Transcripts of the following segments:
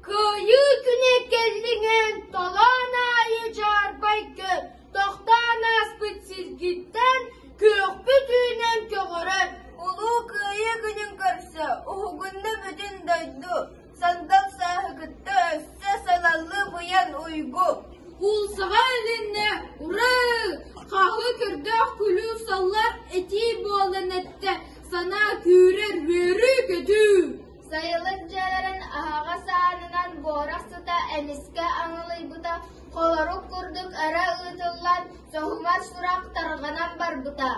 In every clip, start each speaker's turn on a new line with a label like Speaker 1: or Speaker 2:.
Speaker 1: Кыайыы күнэ кэллиҥэн толоон аайы дьаарбайга тохтоон ааспыт сиргиттэн күөхпүт үүнэн көҕөрөр Улуу Кыайыы
Speaker 2: күнүн көрсө уһугунна бүтүн дойду, сандал сааһы кытта өссө салаллы быйан уйгу Куулсаҕа
Speaker 1: илиннэ «Ураа! Хаһыы көрдөөх күлүү саллар этии буолан эттэ, санаа күүрэр үөрүү-көтүү» Сайылык дьиэлэрин
Speaker 2: аһаҕас аанынан буорах тута эмискэ аҥылыйбыта, холорук курдук өрө ыытыллан, соһумар сурах тарҕанан барбыта.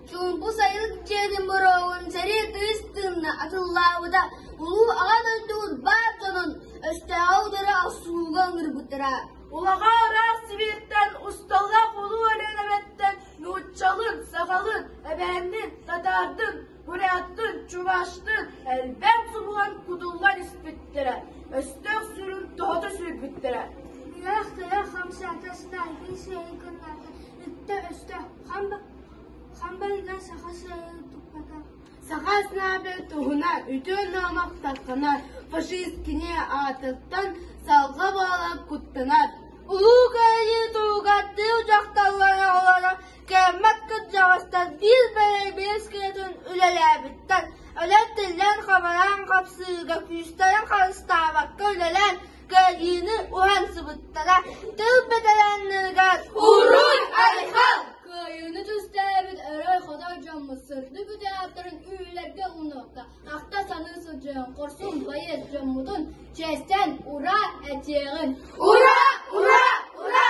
Speaker 2: Чуумпу сайылык дьиэтин бороҕун сэрии тыыс тыынна атыллаабыта, улуу аҕа дойдубут баар дьонун өстөөҕү утары охсуһууга ыҥырбыттара. Улаҕаа
Speaker 1: ыраах Сибииртэн, усталаах улуу Өлүөнэбэттэн нууччалыын, сахалыын, эбээнниин, татаардыын, Буряттын, чуваштын элбэх субуһан кутуллан испиттэрэ, өстөөх сүрүн тоһото сүүрбүттэрэ. Ыах ыра
Speaker 3: хамсаатастаайгын сиэйгыннаата, үттэ өстө хамба хамбайга саха сиэйи туппата. Саха снабе
Speaker 1: туһуна үтүө номох сатхана фашист кини аатыттан салга бола куттанат. Улуу кыайыы туһугаттыы дьахталлара олоро Кэммэт кырдьаҕастар биир бэрэбиэркэлэтэн үлэлээбиттэр, өлөн-тиллэн, хабаран хапсыыга күүстэрин харыстаабакка үлэлээн, кыайыыны уһан сыбыттара. Тыл бэтэрээннэригэр «Урут, Айхал!» кыайыыны түстээбит өрө-хотор дьоммут сырдык бүтээтэрин үөлэргэ ууннарда. Ахта-саныы сылдьыан хорсун байыас дьоммутун чээстэн «Ура!» этиэҕин. «Ура! Ура! Ура!»